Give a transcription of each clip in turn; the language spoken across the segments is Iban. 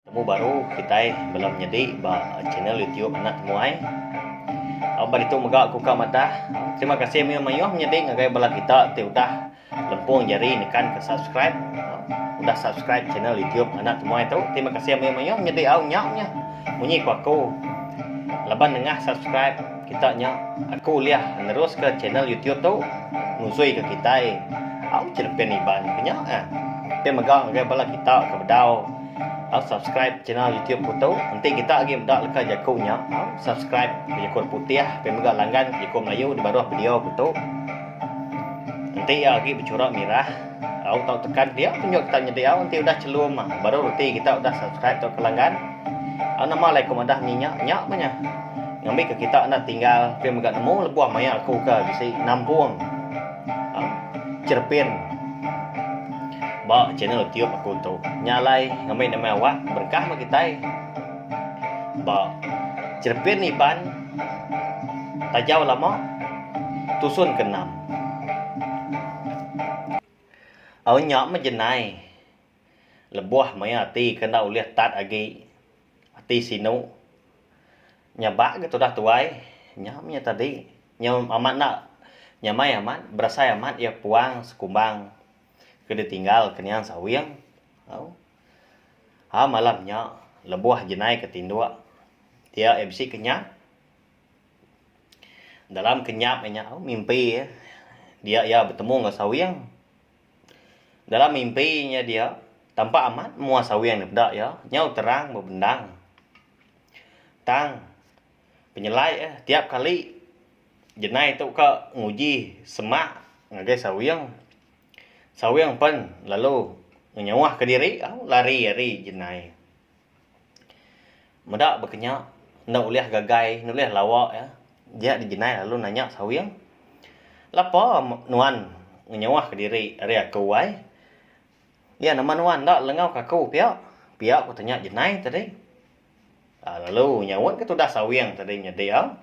Temu baru kitai bela menyedi ba channel YouTube anak temuai. Au ba ditu mega aku ka madah terima kasih mayuh-mayuh menyedi ngagai bala kita ti udah lempung jari nekan ke subscribe udah subscribe channel YouTube anak temuai tu terima kasih mayuh-mayuh menyedi au nya nya munyi ku aku laban nengah subscribe kita nya aku ulih neruska channel YouTube tu nusui ke kitai au cherimpin Iban ke nya eh. Pia mega ngagai bala kita ke bedau. Au subscribe channel YouTube ku tu enti kita agi meda leka jaku nya au subscribe bejaku orang putih tapi mega langgan ke jaku melayu di baruh video ku tu enti iya agi bechura mirah au tau tekan dia tunjuk kita nyadi au enti udah chelum baru reti kita udah subscribe tauka langgan au nama alai ku madah menyi nya nya meh nya ngambi ke kita enda tinggal tapi mega nemu lebuh maya aku ke bisi nampung. Cherepin ba channel YouTube aku tu nya alai ngemei nembiak awak berkah meh kitai ba cherepin Iban tajau lama tusun ke enam au nya meh jenai lebuh maya ati ke enda ulih tat agi ati sinu. Nya ba ga tudah tuai. Nya mih nya tadi. Nya amat enda. Nyamai amat, berasai amat iya puang sekumbang ke ditinggal ke niang sawing. Au. Ha malam nya lebuh jenai ke tinduk dia iya bisi kenyap. Dalam kenyap iya nya au mimpi iya dia iya betemu enggau sawing. Dalam mimpi nya dia tampak amat mua sawing peda iya nyau terang bebendang. Tang penyelai iya tiap kali jenai tu ka nguji semak ngagai sawing, sawing pen lalu ngenyauh ka diri au lari ari jenai. Meda ba kenya enda ulih gagai enda ulih lawa iya dia di jenai lalu nanya sawing lapa nuan ngenyauh ka diri ari aku ai Iya nama nuan enda lengau ke aku pia? pia ku tanya Jenai tadi lalu nyaut ke tudah Sawing tadi nyadi iya.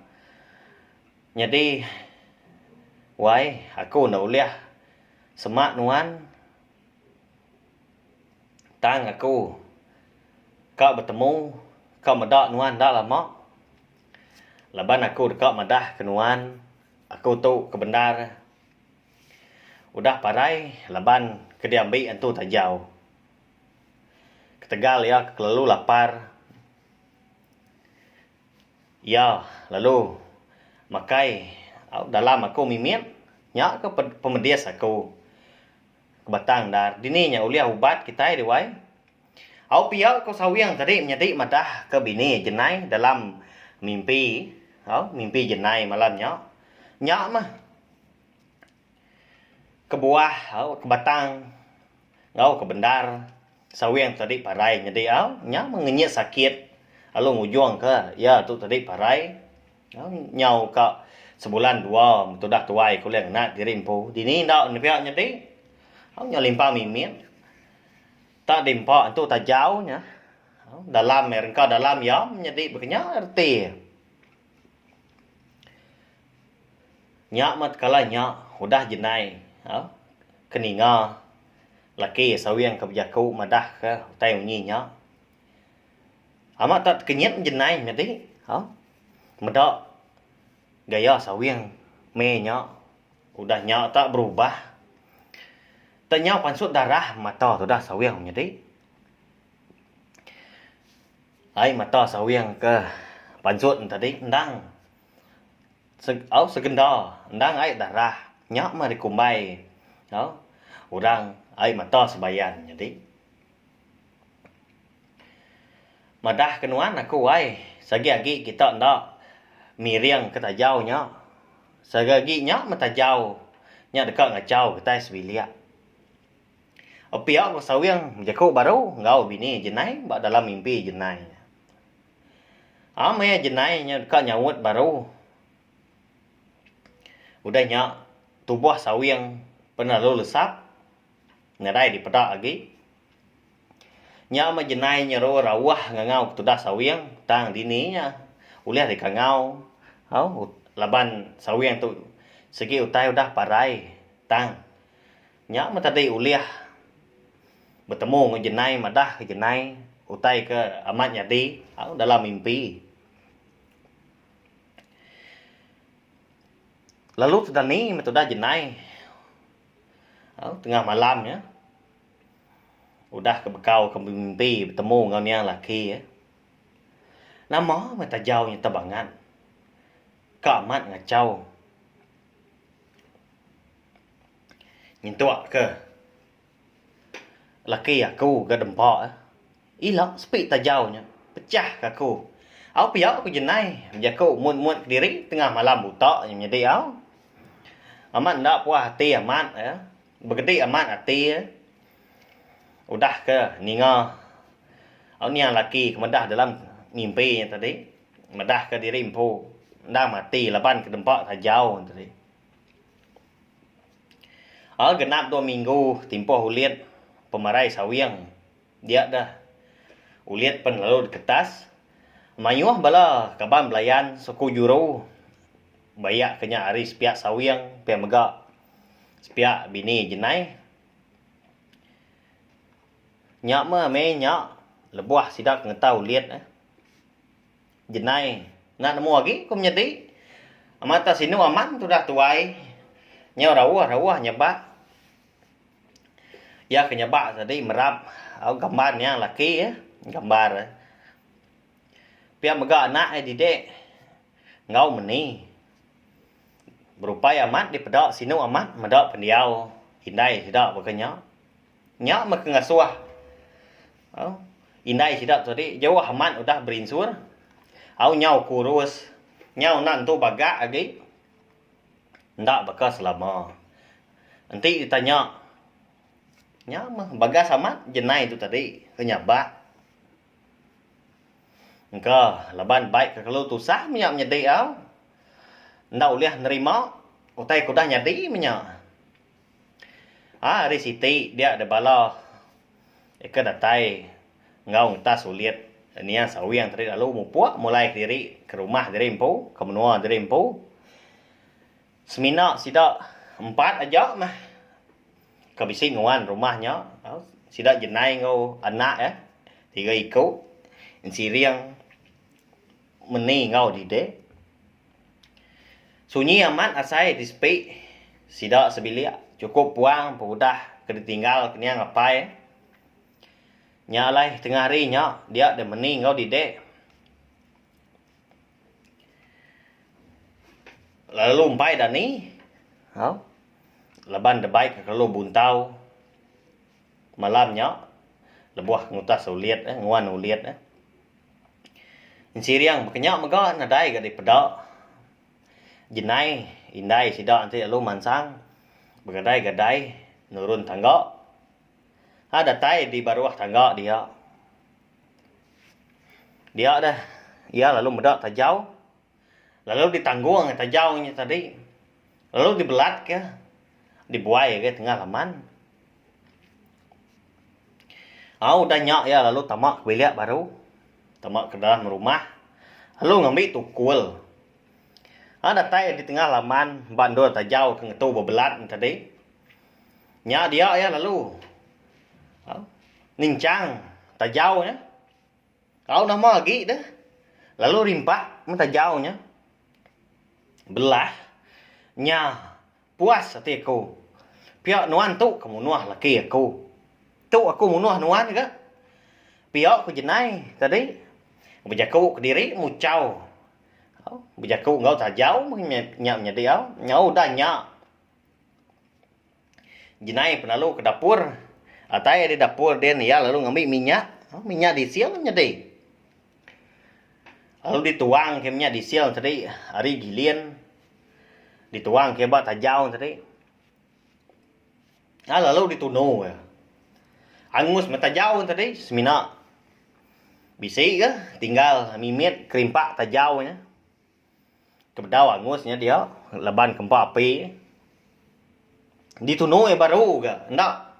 Nyadi wai aku enda ulih sema nuan tang aku ka betemu ka meda nuan enda lama laban aku deka madah ke nuan aku tu ke bendar. Udah parai laban ke diambi entu tajau. Ketegal iya kelalu lapar, iya lalu makai dalam aku mimit nya ke pemedis aku ke batang ndar. Dini nya ulih ubat kitai deh wai. Au pia ku Sawing tadi nyadi madah ke bini jenai dalam mimpi au mimpi jenai malam nya. Nya mah. Kebuah au ke batang enggau ke bendar sawing tu tadi parai nyadi au nya meh ngenyit sakit lalu ngujung ke iya tu tadi parai nyau ka sebulan dua tudah tuai ku ulih ngena diri empu dini enda ne pia nyadi au nyau limpa mimit ta di empa tu tajau nya dalam rengka dalam iya meh nyadi ba kenyau reti. Nya meh tekala nya udah jendai au ke ninga laki sawing ke bejaku madah ke utai munyi nya amat tau tekenyit jendai nya ti au meda gaya sawing meh nya udah nya ta berubah tau nya pansut darah mata tudah sawing nya ti. Ai mata sawing ke pansut entadi endang au segenda endang ai darah nya mah dikumbai au orang ai mata sebayan nyadi madah ke nuan aku ai sagi agi kita enda miring ke tajau nya sagi agi nya mah tajau nya deka ngachau kitai sebilik. Epiak Sawing bejaku baru enggau bini Jenai ba dalam mimpi Jenai. Am maya Jenai nya deka nyaut baru. Udah nya tubuh Sawing pan lalu lesap nadai dipeda agi. Nya meh Jenai nyeru rauh ngangau ketudah Sawing tang dini nya ulih deka ngau laban Sawing tu segi utai udah parai tang. Nya meh tadi ulih betemu enggau jenai madah ke jenai utai ke amat nyadi au dalam mimpi. Lalu tu dani meh tudah jenai au tengah malam nya udah ke bekau ke bemimpi betemu enggau nia laki iya. Nama meh tajau nya tebangat ka amat ngachau. Nyentuk ke laki aku ga dempa ila sepi tajau nya pecah ke aku au pia ku jenai bejaku mut mut kediri tengah malam buta nya nyadi au amat enda puas ati amat eh begedi amat ati eh udah ke ninga au nia laki ke meda dalam mimpi nya tadi meda ke diri empu endang mati laban ke dempa tajau nya tadi. Al genap dua minggu timpuh ulit pemarai sawing dia deh ulit pen lalu diketas mayuh bala kaban belayan suku juru bayak ke nya ari sepiya sawing pia mega sepiya bini jenai nya meh mei nya lebuh sida ke ngetau ulit eh. Jenai, enda nemu agi ku menyedi. Amat tak sinu aman tudah tuai. Nyau rauh rauh nyebak. Iya ke nyebak tadi merap au gambar nya laki iya gambar iya. Pia mega anak iya didik enggau meni. Berupai amat dipeda sinu amat meda pendiau indai sida baka nya. Nya meh ke ngasuh au indai sida tu tadi jauh amat udah berinsur au nyau kurus nyau enda entu bagak agi enda baka selama enti ditanya nya meh bagas amat jenai tu tadi ke nyabak engka laban bai ke kelu tusah menya nyadi au enda ulih nerima utai ke udah nyadi menya. Haa ari siti dia deh bala ke datai enggau ngetas ulit nia sawing tadi lalu mupuk mulai kediri ke rumah diri empu ke menua diri empu semina sida empat aja meh ke bisi nguan rumah nya sida jenai enggau anak eh tiga iku ensiring Meni enggau dide. Sunyi amat asai ti sepi. Sida sebilik chukup puang empu udah ke ditinggal kenyang apai. Nya alai tengah hari nya dia deh meni enggau dide. Lalu empai dani. Au. Laban debai ke kelalu buntau. Malam nya, lebuh ngutas ulit, nguan ulit, Ensiriang bekenya mega nadai ga dipeda. Jenai indai sida enti lalu mansang begadai-gadai nurun tangga. Ai datai di baruh tangga dia. Dia deh iya lalu meda tajau. lalu ditanggong tajau nya tadi lalu dibelatka dibuaika tengah laman au udah nya iya lalu tama ka bilik baru tama ka dalam rumah lalu ngambi tukul au datai di tengah laman ba endur tajau ke ngetu bebelat nya tadi nya dia iya lalu au ninchang tajau nya. Au nama agi deh lalu rimpak mun tajau nya belah nya puas ati aku pia nuan tu ke munuh laki aku tu aku munuh nuan ga pia ku jenai tadi bejaku kediri muchau bejaku enggau tajau meh nya nyadi au nyau udah nya. Jenai penalu ke dapur atai ari dapur din iya lalu ngambi minyak minyak diesel nyadi lalu dituang ke minyak diesel tadi ari gilin dituang ke ba tajau tadi ai lalu ditunu iya angus meh tajau tadi semina bisi ga tinggal mimit kerimpak tajau nya. Ke bedau angus nya dia laban ke empa api ditunu iya baru ga enda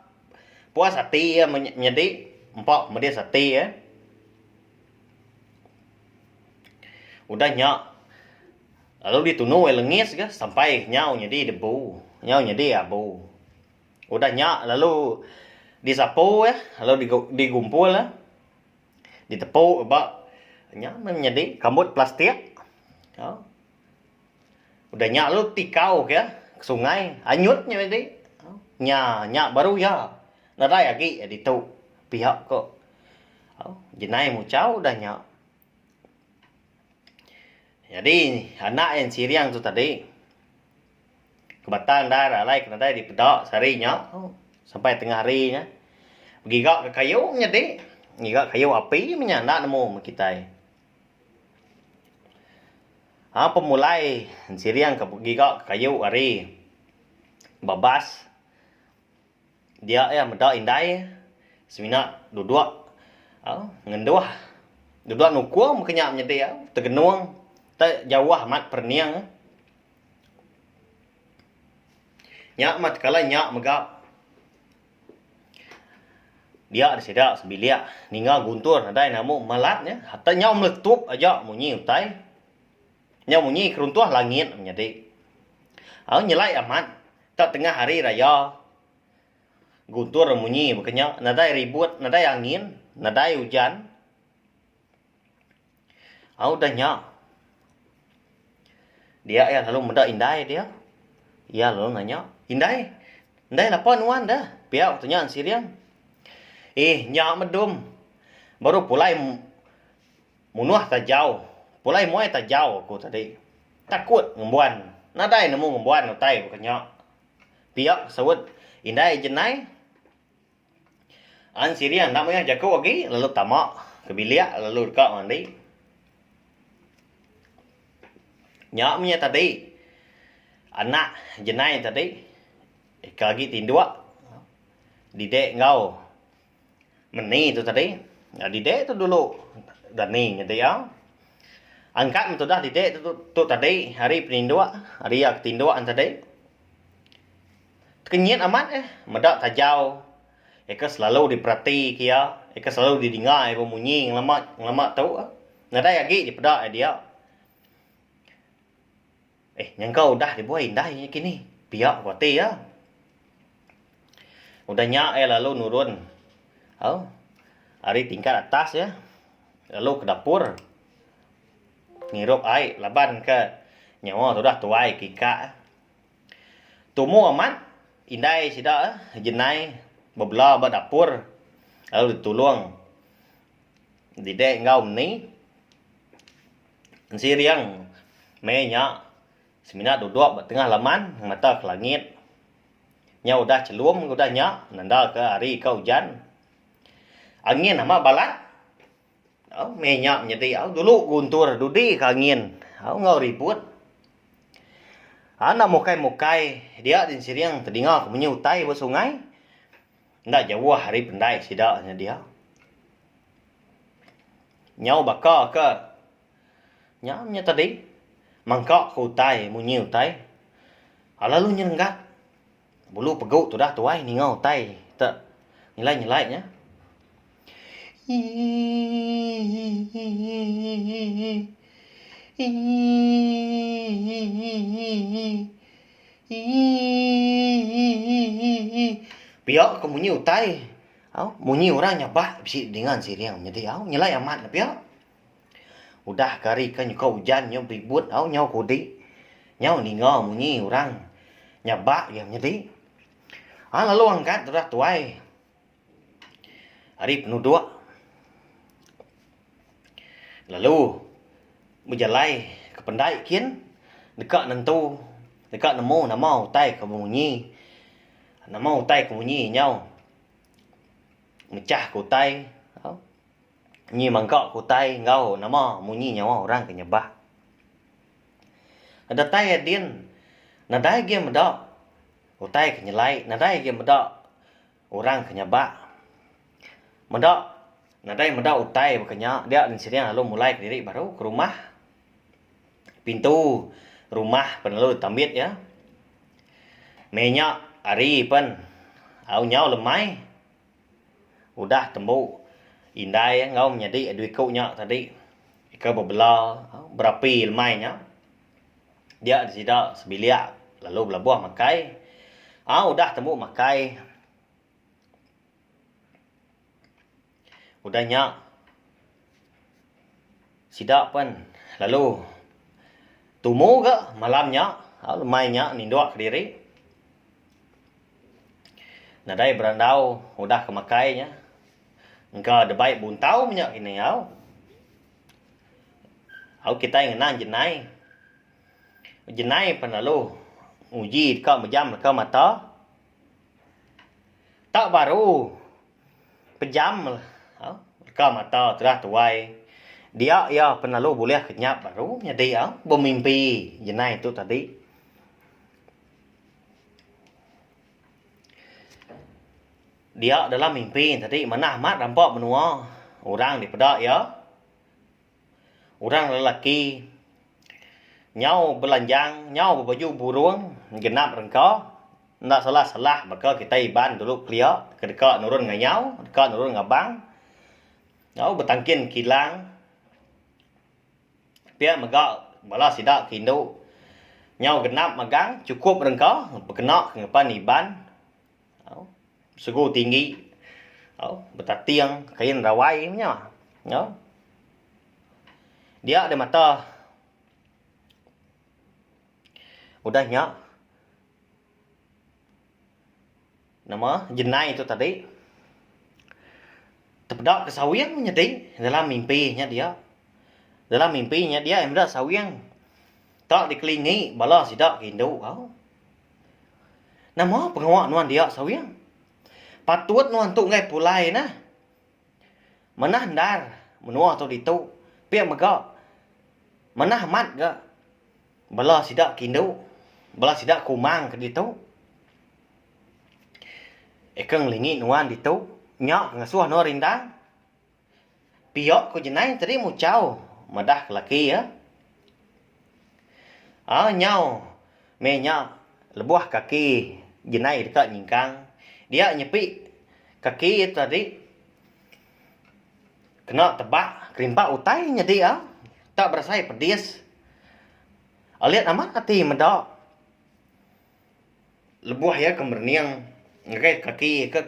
puas ati iya menyadi empa pedis ati iya udah nya lalu ditunu iya lengis ga sampai nyau nyadi debu nyau nyadi abu udah nya lalu disapu iya lalu digumpul iya. ditepu ba nya meh nyadi rambut plastik au udah nya lalu ti kau ke sungai anyut nya nyadi au nya nya baru iya nadai agi iya ditu piak ko au jenai muchau udah nya nyadi anak iya sirang tu tadi. Kebata endar alai ke nadai dipeda sehari nya tu sampai tengah hari nya begiga ke kayu nyadi ngiga kayu api meh nya enda nemu meh kitai. Au pemulai siring ke begiga ke kayu ari babas dia iya meda indai semina dudok au ngenduh dudok nukung meh ke nya nyadi au tegenung te jauh amat perening. Nya amat kala nya mega dia da sida sebilik ninga guntur nadai namu malat nya hata nyau meletup aja munyi utai nyau munyi keruntuh langit nyadi. Au nyelai amat ka tengah hari raya guntur munyi baka nya nadai ribut nadai angin nadai ujan. Au udah nya, dia iya lalu meda indai dia. Iya lalu nanya, Indai, indai lapa nuan dah? Pia ku tunya Ensirian. Ih, nya medum. Baru pulai munuh tajau, pulai muai tajau aku tadi. Takut ngembuan. Nadai nemu ngembuan utai ku nya. Pia saut Indai Jenai. An siri anak maya jaku agi lalu tama ke bilik lalu deka mandi. Nya mih tadi anak jenai tadi ke agi tinduk didik enggau meni tu tadi didik tu dulu dani nyadi iya an ka tudah didik tu tadi hari peninduk hari iya ke tinduk tadi. Tekenyit amat eh meda tajau eka selalu diperati ke iya, eka selalu didinga iya bemunyi ngelama ngelama tu eh. Nadai agi dipeda iya dia. Eh nyangka udah deh buai indai inya kini. Pia ku ati iya. Udah nya iya lalu nurun au ari tingkat atas iya lalu ke dapur ngirup ai laban ke nyawa tu udah tuai ke ikak eh. Tumu amat indai sida jenai bebela ba dapur lalu ditulung didek enggau meni enti riyang mei nya semina dudok ba tengah laman mata ke langit nyau udah chelum udah nya nanda ke hari ka ujan angin amat balat. Au meh nya nyedi au dulu guntur dudi ka angin au enggau ribut. Anda mukai-mukai dia din siring tedinga ku munyi utai ba sungai. Enda jauh ari pendai sida nya dia. Nyau baka ke nya nya tadi mangka ke utai munyi utai lalu nyerenggat. Bulu pegu tudah tuai ninga utai te nyelai-nyelai nya. Pia ke munyi utai au munyi orang nyabak bisi dinga siring nyadi au nyelai amat ne pia. Udah ke hari ke nyuka ujan nyau beribut enggau nyau ke udi, nyau ninga munyi orang nyaba iya menyadi. Ai lalu angkat udah tuai ari penuduk lalu bejalai ke pendai kin deka nentu deka nemu nama utai ke munyi nama utai ke munyi nyau mechah ke utai. Nyi mangka ku utai enggau nama munyi nyawa orang ke nyebah. Datai iya din, nadai agi meda utai ke nyelai, nadai agi meda orang ke nyabak. Meda nadai meda utai baka nya dia din sida lalu mulai kediri baru ke rumah. Pintu rumah pan lalu ditambit iya. Mei nya hari pan au nyau lemai. Udah tembu indai enggau menyadi dua iku nya tadi ke bebela berapi lemai nya dia sida sebilik lalu belabuh makai au udah tembu makai udah nya Sida pen lalu tumu ga malam nya au lemai nya nindok kediri nadai berandau udah ke makai nya engka debai buntau nya kini au. Au kitai ngena jenai, jenai pen lalu nguji deka mejam deka mata tak baru. Pejam meh leka mata terah tuai dia iya pen lalu bulih ke nyap baru nyadi bemimpi jenai tu tadi. Dia dalam mimpi tadi manah amat rampa menua orang dipeda iya. Orang lelaki nyau belanjang nyau bebaju burung genap rengka enda salah salah baka kitai Iban dulu kelia ke deka nurun ngayau deka nurun ngabang nyau betangkin kilang pia mega bala sida ke indu nyau genap magang chukup rengka bekena ke ngeban Iban. Segu tinggi, betating, kain rawai nya. Dia deh mata. Udah nya, nama jenai tu tadi tepeda ke sawing nyadi dalam mimpi nya dia. Dalam mimpi nya dia meda sawing tak dikelingi bala sida ke indu. Nama pengawa nuan dia Sawing? Patut nuan tu enggai pulai nah. Manah endar menua tu ditu pia mega manah amat ga bala sida ke indu bala sida ke umang ke ditu. Eka ngelingi nuan ditu nya ngasoh nuan rindang Pio ku jenai tadi muchau madah ke laki iya. Au nyau meh nya lebuh kaki jenai deka nyingkang dia nyepi kaki iya tadi kena tebak kerimpa utai nyadi au tak berasai pedis. Alit amat ati meda. Lebuh iya ke merening ngagai kaki ke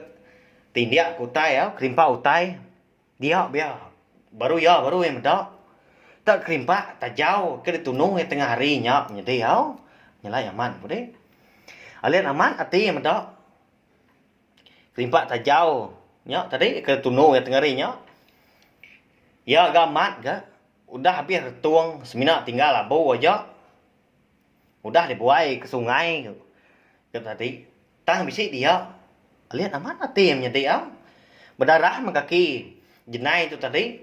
tindik ke utai au, kerimpah utai dia bia baru iya baru iya meda te kerimpah tajau ke ditunu iya tengah hari nya nyadi au nyelai amat ku dih. Alin amat ati iya meda kerimpah tajau nya tadi ke ditunu iya tengah hari nya iya ga amat ga udah habis retung semina tinggal abu aja. Udah dibuai ke sungai tu ke tadi tang bisi dia alit amat ati iya menyadi am bedarah meh kaki jenai tu tadi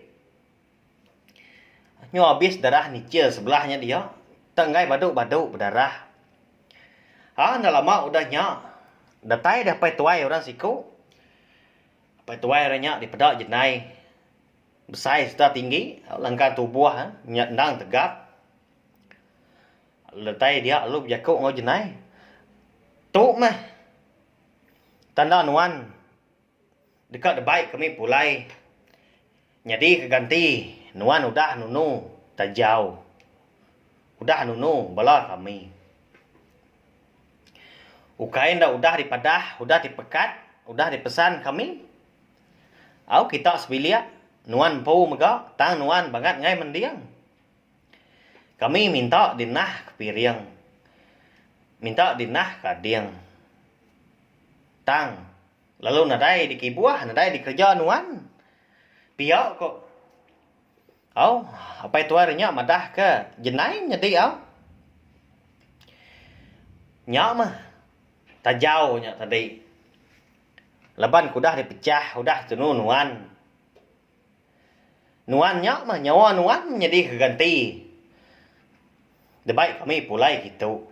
nyu abis darah nichil sebelah nya dia tang enggai badu-badu bedarah ha enda lama udah nya datai deh apai tuai orang siku apai tuai orang nya dipeda jenai besai sereta tinggi langkang tubuh endang tegap. Letai dia lalu bejaku enggau Jenai, Tu meh tanda nuan deka dibai kami pulai nyadi ke ganti nuan udah nunu Tajau, udah nunu bala kami. Ukai enda udah dipadah, udah dipekat, udah dipesan kami, au kita sebilik nuan empu mega tang nuan bangat angai mending. Kami minta dinah ke piring. Minta dinah ke ading. Tang, lalu nadai dikibuh, nadai dikereja nuan. Pia ko. Au, apai tuai re nya madah ke jenai nyadi au. Nya meh tajau nya tadi. Laban ke udah dipechah, udah tunu nuan. Nuan nya mah nyawa nuan menyedi ke ganti debai kami pulai kitu.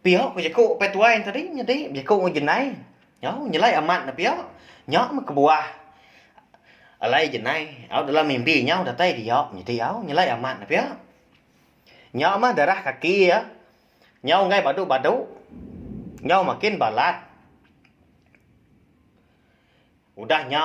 Pia ku jeku Opei Tuai enti tadi nyadi bejeku enggau jenai nyau nyelai amat ne pia. Nya mah kebuah alai jenai au dalam mimpi inya datai dia nyadi au nyelai amat ne pia. Nya mah darah kaki iya nyau enggai badu-badu nyau makin balat. Udah nya.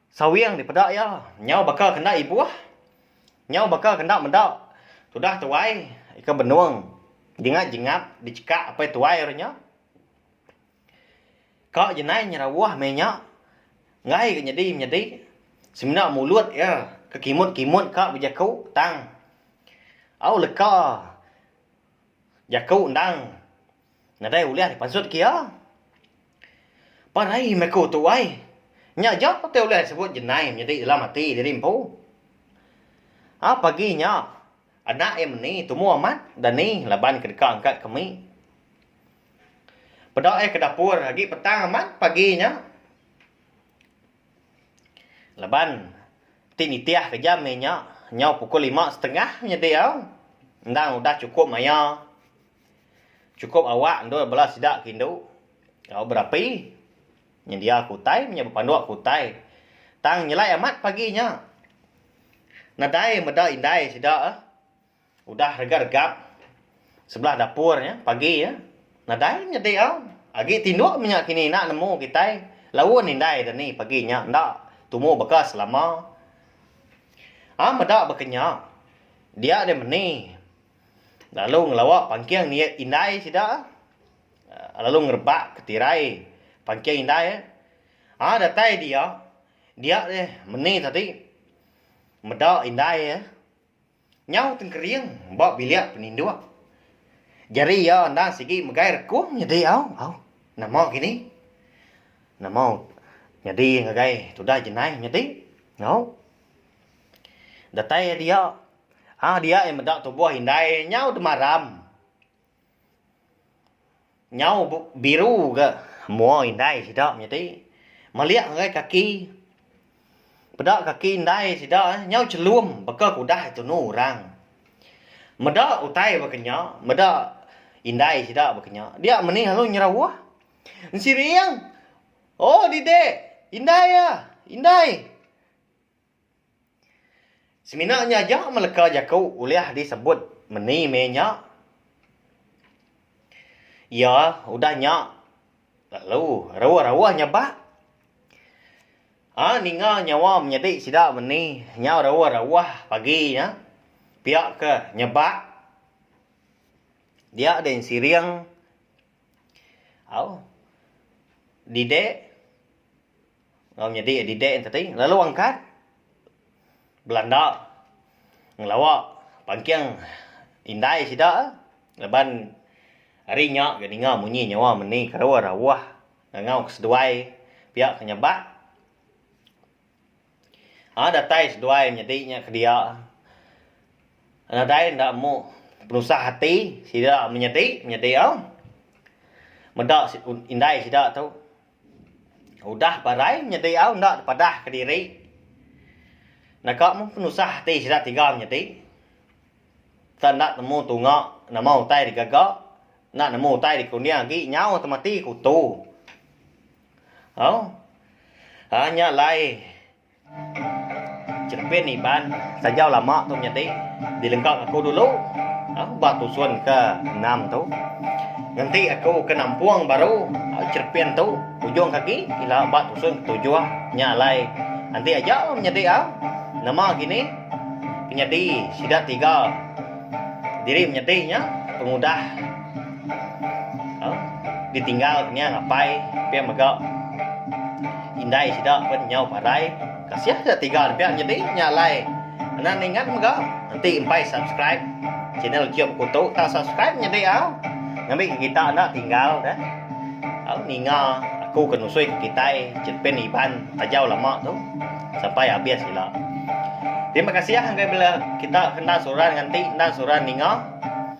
Sawing dipeda iya, nyau baka kenda ibuh, nyau baka kenda meda tudah tuai ika benung jingat-jingat dichekak apai tuai ru nya. Ka jenai nyerawuh meh nya, enggai ga nyadi menyadi, semina mulut iya ke kimut-kimut ka bejaku tang au leka jaku endang. Nadai ulih dipansut ke iya. Pan ai meh ku tu ai. Nya aja ku ti ulih disebut jenai menyadi dalam ati diri empu. Ap agi nya anak iya meni tumu amat dani laban ke deka angkat ke mi. Peda iya ke dapur agi petang amat pagi nya. Laban ti nitih ke jam iya nya nyau pukul lima setengah menyadi au endang udah chukup maya. Chukup awak endur bela sida ke indu enggau berapi nyendia ke utai menya bepanduk ke utai. Tang nyelai amat pagi nya. Nadai meda indai sida udah regap-regap sebelah dapur nya pagi nya. Nadai nyadi au. Agi tinduk menya kini enda nemu kitai laun indai deh ni pagi nya enda tumu baka selama. Am meda ba kenyau. Dia deh meni Lalu ngelawa pangking ni indai sida lalu ngerebak ke tirai pangking indai um datai dia dia deh meni tadi meda indai iya nyau tengkering ba bilik peninduk jari iya enda sigi megai rekung nyadi au au nama kini nama nyadi ngagai tudah jenai nyadi nyau datai dia. Hang dia iya meda tubuh indai nyau demaram. Nyau biru ga mua indai sida menyadi. Melik ngagai kaki. Peda kaki indai sida eh nyau chelum baka ke udah tunu orang. Meda utai baka nya, meda indai sida baka nya. Dia meni lalu nyerauh. Ensering, Oh didik, indai ah, indai. Semina nya aja meleka jaku ulih disebut meni meh nya. Iya udah nya lalu rauh-rauh nyabak. A ninga nyawa menyadi sida meni nya rauh-rauh pagi nya pia ke nyabak dia deh siring au didek. Enggau nyadi didik enti ti lalu angkat belanda ngelawa pangking indai sida laban ari nya ga ninga munyi nyawa meni kerawa rawah ngangau ke seduai pia ke nyabak a datai seduai nyadi nya kedia nadai enda mu penusah ati sida menyadi nyadi a meda indai sida tu. Udah barai nyadi au enda tepadah kediri. Naka meh penusah ati sida tiga menyadi. Tang enda temu tunga nama utai digaga, enda nemu utai dikuning agi nyau temati kutu. Au. Nya alai. Chirepin Iban sajau lama tu nyadi dilengka aku dulu ba tusun ke enam tu ngenti aku ke nampung baru chirepin tu ujung ke agi ila ba tusun ke tujuh nya alai enti aja la menyadi au nama kini penyadi sida tiga diri menyadi nya pengudah. Ditinggal ke nya apai pia mega indai sida pen nyau parai kasih ke tiga ne pia nyadi nya alai ena ningat mega enti empai subscribe channel kiye bekuto ta subscribe nyadi au ngambi ke kita enda tinggal de au ninga aku ke nusui ke kitai cheripen iban ajau lama tu sampai habis ila terima kasih bala kita ke enda suran nganti enda suran ninga.